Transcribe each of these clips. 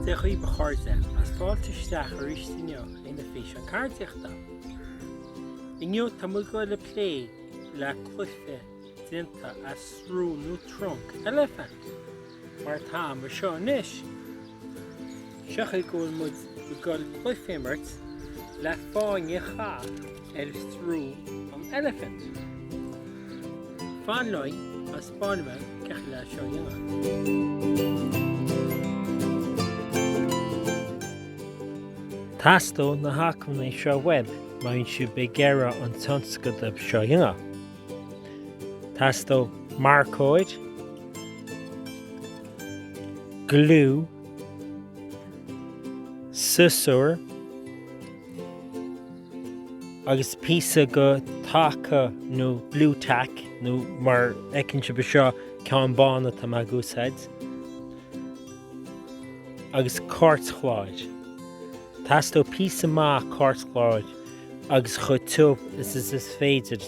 Dia dhaoibh a chairde is fáilte isteach arís inniu inár bhfíseán ceardaíochta. Inniu tá muid ag dul ag plé le cluiche déanta as srón nó trunc eilifint. Mar atá anseo anois, tiocfaidh go bhfuil muid i gCoill Chluife imirt le fáinne chaith ar Thrú an Elephant. Fan liom agus bainim amach cad le seo dhéanamh. Theastódh na hacmhainní seo uaim, maíonn siad beidh deireadh an tionscadail seo dhéanamh. Teastóidh marcóir, gliú, siosúr agus píosa de taca nó blue tack nó mar a fheiceann sibh anseo ceann bán atá mé ag úsáid agus cairtchláir. Teastóidh píosa maith cairtchláir. agus chomh tiubh is is féidir.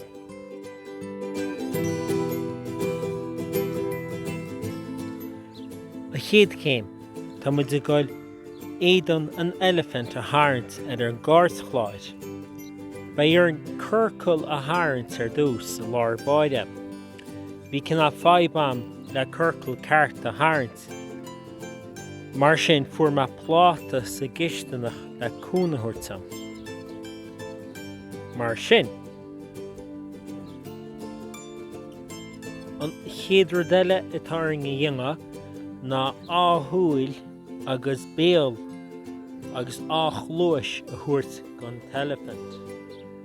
An chéad chéim, tá muid ag dul éadan an eilifint a tharraingt ar an gcairtchláir. Beidh orainn ciorcal a tharraingt ar dtús, i lár báire. Bhí cineál fadhb agam le ciorcal ceart a tharraingt. Mar sin fuair mé pláta sa gcisteanach le cúnamh a thabhairt dom. Mar sin. An chéad rud eile atá orainn a dhéanamh ná dhá shúil agus béal agus dhá chluais a thabhairt don t-eilifint.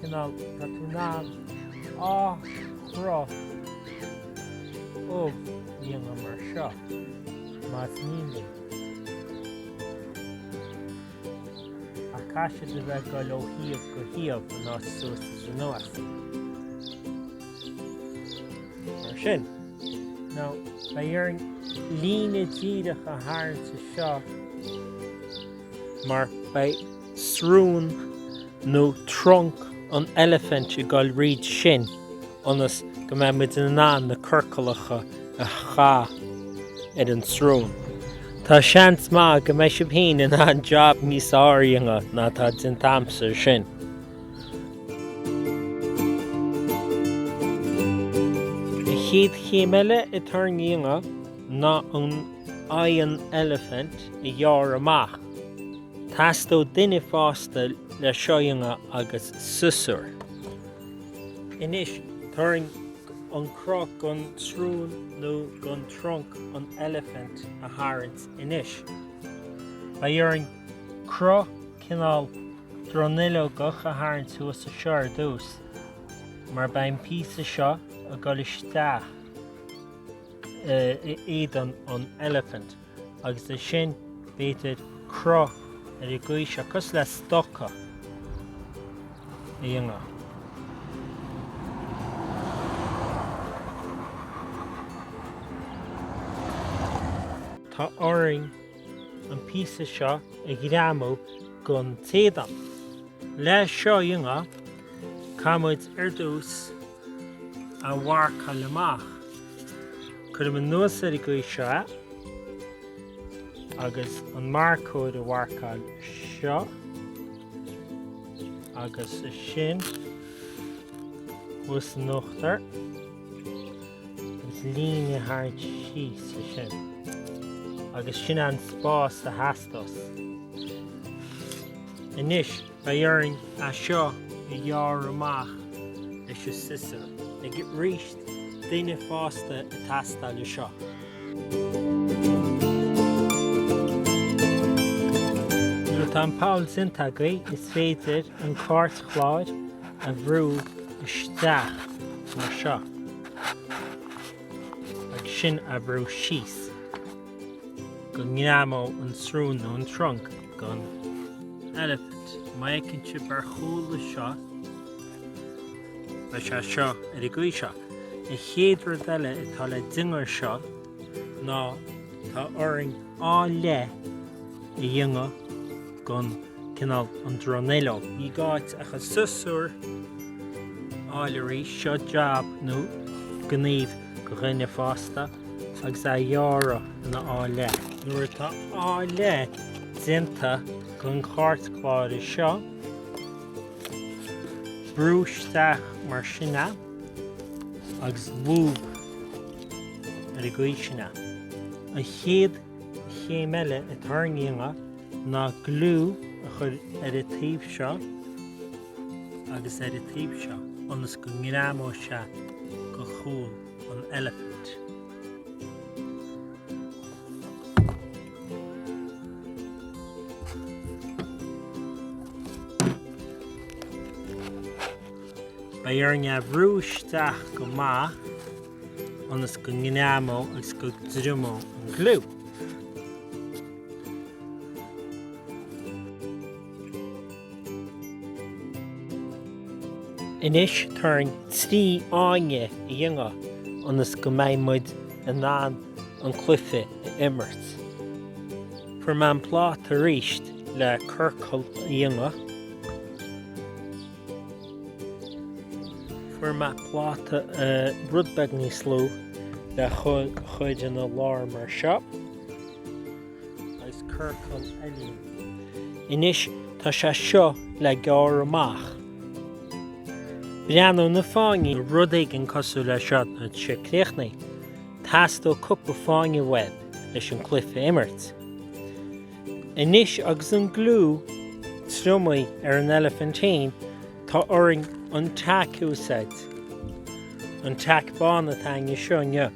cineál, tá tú in ann dhá chruth ubh a dhéanamh mar seo, más mian linn. Ach caithfidh siad a bheith ag dul ó thaobh go taobh in áit suas is anuas. Mar sin. Nó, beidh orainn líne díreach a tharraingt anseo mar beidh. srón nó trunc an eilifint ag dul thríd sin ionas go mbeidh muid in ann na ciorcalacha a chaitheamh ar an tsrón. Tá seans maith go mbeidh sibh féin in ann jab níos fearr a dhéanamh ná atá déanta agamsa air sin. An chéad chéim eile atá orainn a dhéanamh ná an aghaidh an eilifint a ghearradh amach. Teastóidh duine fásta le seo a dhéanamh agus siosúr. Anois, tá orainn an cruth gon tsrón nó gon trunc an eilifint a tharraingt anois. Beidh orainn cruth cineál dronuilleogach a tharraingt thuas anseo ar dtús, mar beidh an píosa seo ag dul isteach in éadan an eilifint. agus ansin b'fhéidir cruth ar an gcaoi seo, cosúil le stoca a dhéanamh. Tá orainn an píosa seo a ghreamú gon t-éadan. Le seo a dhéanamh, caithfidh muid ar dtús a mharcáil amach. Cuirim anuas ar an gcaoi seo agus an marcóir a mharcáil anseo agus ansin thuas in uachtar agus líne a tharraingt síos ansin agus sin é an spás a theastós. Anois Beidh orainn é seo a ghearradh amach leis an siosúr. Agus aríst, duine fásta ag teastáil le seo. Nuair atá an poll déanta agaibh, is féidir an cairtchlár a bhrú isteach mar seo agus ansin é a bhrú síos. go ngreamóidh an srón nó an trunc den eilifint. Mar a fheiceann sibh ar chúla seo, beidh sé seo ar an gcaoi seo. An chéad rud eile atá le déanamh air seo ná tá orainn dhá leith a dhéanamh den cineál an dronuilleog. Ní gá ach an siosúr a fháil arís. Seo jab nó gníomh. dhuine fásta agus é a ghearradh ina dhá leith. Nuair atá dhá leith déanta den chairtchlár seo, brúigh isteach mar sin é agus lúb ar an gcaoi sin é. An chéad chéim eile atá orainn a dhéanamh ná gliú a chur ar an taobh seo, agus ar an taobh seo ionas go ngreamóidh sé go chúl an eilifint. Beidh orainn é bhrú isteach go maith ionas go ngreamóidh agus go dtriomóidh an gliú. Anois tá orainn trí fháinne a dhéanamh ionas go mbeidh muid in ann an cluiche a imirt. Fuair mé an pláta arís le ciorcal a dhéanamh. Fuair mé pláta rud beag níos lú le chur ina lár mar seo. agus ciorcal eile a dhéanamh. Anois tá sé seo le gearradh amach. Breathnóidh na fáinní. rud éigin cosúil le seo nuair atá sé críochnaithe. Teastóidh cúpla fáinne uaibh leis an cluiche a imirt. Anois agus an gliú triomaithe ar an eilifint féin tá orainn an tack a úsáid. An tack bán atá againn anseo inniu.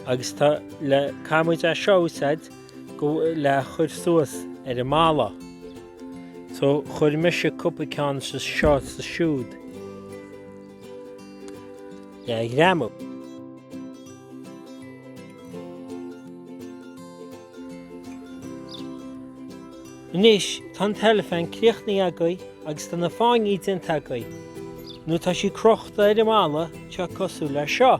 Agus tá le caithfidh muid é seo a úsáid go le chur suas ar an mballa. So chuir mise cúpla ceann anseo is ansiúd. Le ghreamú. Anois tá an t-eilifint críochnaithe agaibh agus tá na fáinní déanta agaibh. Nuair atá sí crochta ar an mballa tá sí cosúil le seo.